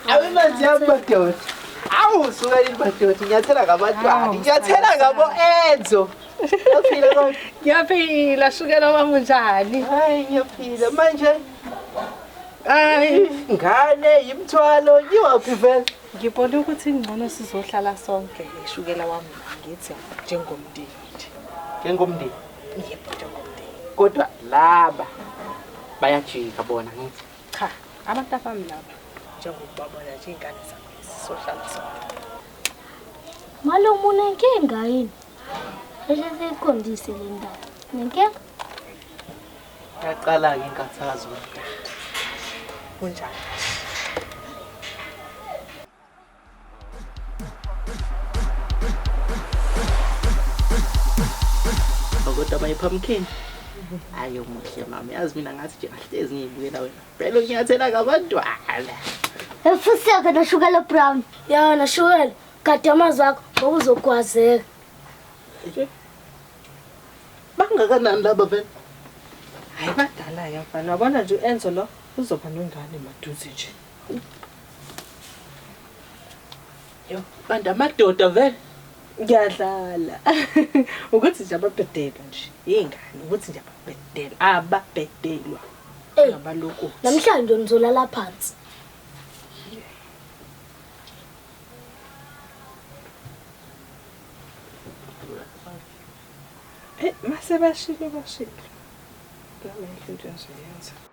awemanzi yami madoda awu suka yini madoda inyathela ngabantwana inyathela ngabo enzo ngiyaphila kodwa ngiyaphila shukela wami unjani hayi ngiyaphila manje hayi ngane yimthwalo ngiwaphi vele ngibone ukuthi ingcono sizohlala sonke ishukela wami ngithi njengomndeni njengomndeni yebo njengomndeni kodwa laba bayajika bona ngithi cha abantu abami laba njengokubabona nje ingane zami sizohlala sonke Malo muna inkinga yini? Bese siqondise le ndaba. Nenkinga? Yaqala ke inkathazo. Kunjani? kodwa my pumpkin ayo muhle mama yazi mina ngathi nje ahlezi ngiyibukela wena phela unyathela ngabantwana efuseka noshukela brown ya noshukela gade amazwi akho ngoba uzogwazeka bangakanani laba vele hayi badala-ke mfana wabona nje u-enzo lo uzoba nengane maduze nje Yo, bantu amadoda vele. Ngiyadlala. Ukuthi nje ababhedelwa nje. Yingane ukuthi nje ababhedelwa, ababhedelwa. Ey, Ngabaloko. namhlanje nizolala phansi. Eh, mase bashilo bashilo. Nami into engizoyenza.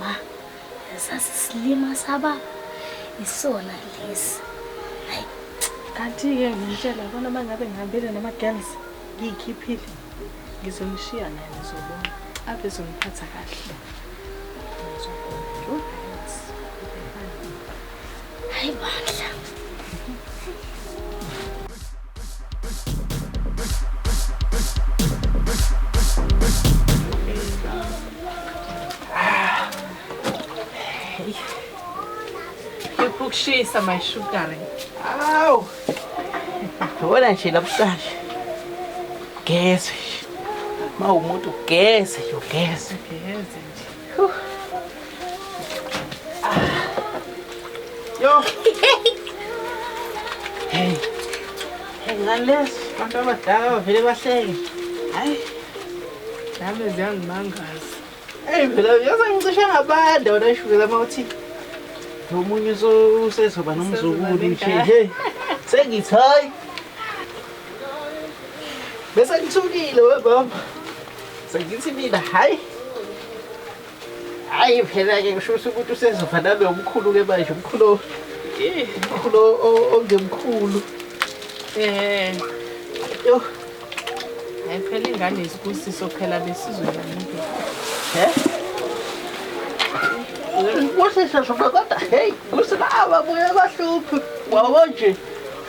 Ma, sasi silima saba isona lesi. Hayi. Kanti-ke ngimtshela bona uma ngabe ngihambile nama-girls ngiyikhiphile ngizomshiya naye ngizobona ave zongiphatha kahle. Hayi bandla. Ukushisa my sugar. Awu. Wona nje labuhlanje. Geze. Mawumuntu geze, yogeze. Geze nje. Yo. Hey. Hey, ngalesi abantu abadala bavele bahleke. Hayi. Nami ziyangimangaza. Hey, phela yaza ngicishe ngabanda wena ishukela mawuthi. Nomunye usezoba nomzukulu nje. Hey. Sengithi hayi. Bese ngithukile we baba. Sengithi mina hayi hayi phela-ke ngisho ukuthi usezofa nami omkhulu-ke manje umkhulu umkhulu ongemkhulu eh yo hayi phela ingane isibusiso phela besizweni umuntu he kuhle shasho kodwa heyi kusilawa buye bahluphi wawo nje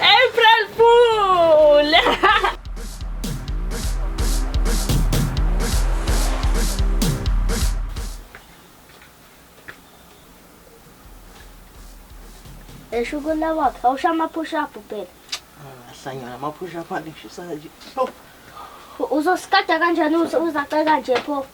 April Fool! Esho ukula wakhe awusho ama-push up phela ahlanyana ama-push up alishisa kanje uzosikada kanjani uzaceka nje pho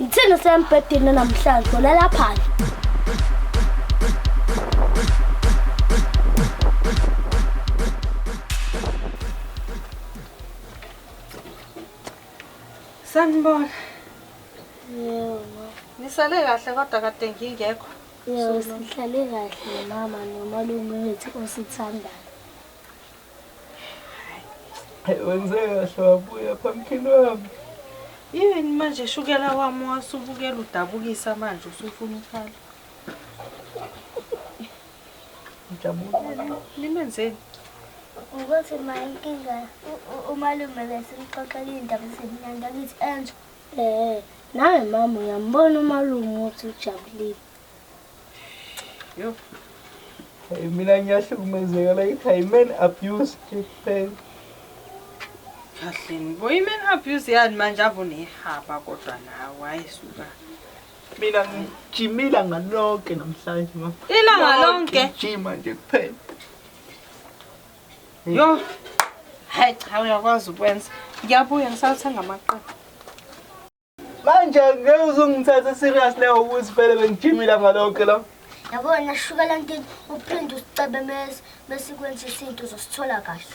Ngithini sembhedeni namhlanje ulala phandle. Sanibona. Yebo. Nisale kahle kodwa kade ngingekho. Yebo, sihlale kahle mama nomalume wethu osithandayo. wenze kahle wabuya phamphini wami yini manje shukela wami wasubukela udabukisa manje usufuna ukhala ngijabulile nimenzeni ukuthi ma inkinga umalume besimxoxela iy'ndaba ezimnandi angithi enje um nawe mama uyambona umalume ukuthi ujabulile Yo. Hey, mina ngiyahlukumezeka la ikhaya man abuse hey. Kahleni boy man abuse yani manje avunehaba kodwa nawe ayisuka. Mina ngijimila ngalonke namhlanje ma. Ilanga lonke. Ngijima nje kuphela. Yo. Hayi cha uyakwazi ukwenza. Ngiyabuya ngisathenga amaqoqo. Manje ngeke uzungithathe serious leyo ukuthi vele bengijimile ngalonke la. Yabona shuka la ntini uphinde usicebe mese bese kwenza isinto uzosithola kahle.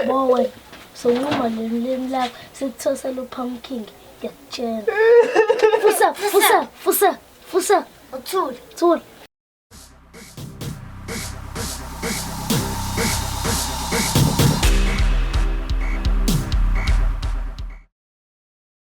Bowe sonquma leli limi lakho sikuthosela upumpkin ngiyakutshela. Fusa fusa fusa fusa uthule. Thule.